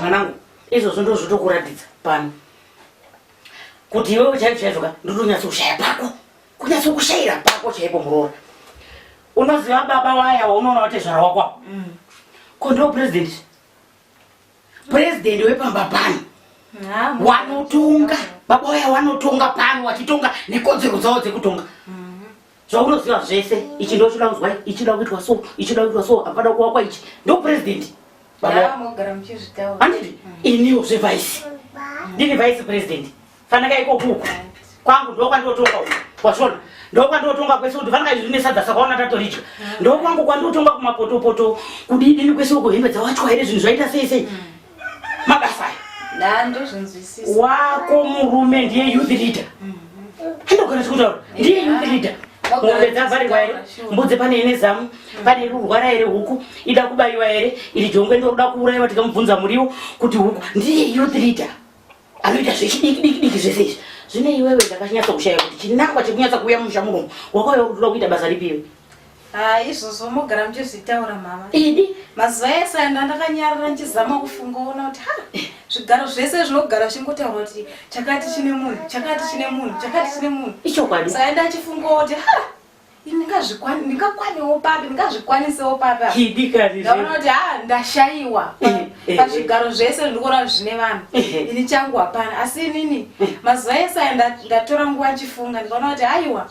mwanangu izvozvo ndozvotokuratidza pano kuti iwewe chaizvo chaizvo ka ndotonyatso kushaya pako kunyatso kushayira pako chaipo muroora unoziva baba waya waunoona watezvara wakwa mm. ko ndo president president wepamba pano wanotonga baba waya wanotonga pano wachitonga nekodzero dzawo dzekutonga mm. zvaunoziva zvese ichi ndochida kuzwa ichida kuitwa so ichida kuitwa so apana kuwakwa ichi ndo president anditi iniwo zvevice ndini vice president fanaka iko kuku kwangu ndokwandotonga uku wazvona ndokwandotonga kwese kuti fanaka izvi nesadza sakaona tatoridya ndokwangu kwandotonga kumapotopoto kudidini kwese uko hembe dzawachwa here zvinhu zvaita sei sei mm. mabasa wako murume ndiye youth leader handogona chikutaura ndiye youth leader mombe dzavharirwa here mbudzi pane ine zamu pane iri kurwara here huku ida kubayiwa here iri jongwe ndiri kuda kuuraiwa tikamubvunza muriwo kuti huku ndiye youth leader anoita zvechidiki diki diki zvese izvi zvine iwewe ndakanyatsa kushaya kuti chinangwa chekunyatsa kuuya mumusha munomu wakauya kuti uda kuita basa ripi iwe haa izvozvo mogara muchizvitaura mama idi mazuva ese anda ndakanyarara ndichizama kufunga ona kuti ha zvigaro zvese zvinogara zvichingotaura kuti chakati chine munhu chakati chine munhu chakati chine munhu ichokwadi saka ndachifunga kuti ha ndingakwanewo papi ndingazvikwanisewo papiaona kuti ha ndashaiwa eh, eh, eh. pazvigaro zvese ndikuona zvine vanhu ini changu hapana asi inini mazuva ese aya ndatora nguva achifunga ndikaona kuti haiwa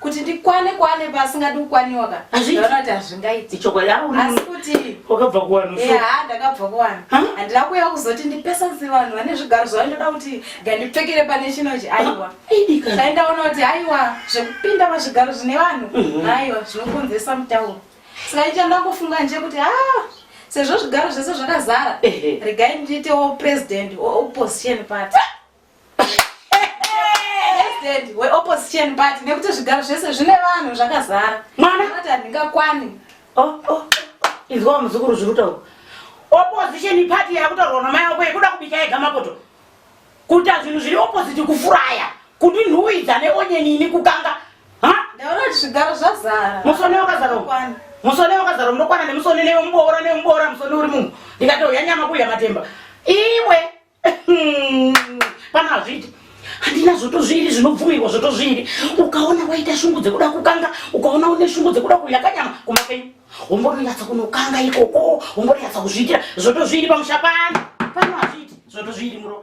kuti ndikwane kwane pasingadi kukwaniwa ka ndaona kuti hazvingaiti chokwadiasi kuti wakabva kuwanhu ha ndakabva kuwanhu handina kuya kuzoti ndipesanise vanhu vane zvigaro zvavo ndoda kuti ngandipfekere pane chinochi aiwa ndaona kuti haiwa zvekupinda pazvigaro zvine vanhu mhm. haiwa zvinokonzesa mutauro saka icho ndangofunga nje kuti a ah, sezvo zvigaro zvese zvakazara regai ndiitewo president weopposition party president weopposition party nekuti zvigaro zvese zvine vanhu zvakazara mwana ati handingakwani oh, oh. izwa muzukuru zviri kutaura opposition party yakutorwa namai wako yekuda kubika yega mapoto kuita zvinhu zviri opposite kufuraya kuti nhuwidza neonyeni ini kukanga ndaona kuti zvigaro zvazara musone wakazara musone wakazara unokwana nemusone nemuboora nemuboora musone uri munhu ndikati uya nyama kuya matemba iwe pana hazviiti handina zvotozviiri zvinobvumirwa zvotozviiri ukaona waita shungu dzekuda kukanga ukaona une shungu dzekuda kuya kanyama kumapenyu wombononyatsa kunokanga ikoko wombononyatsa kuzviitira zvotozviiri pamusha pano pano hazviiti zvotozviiri muroa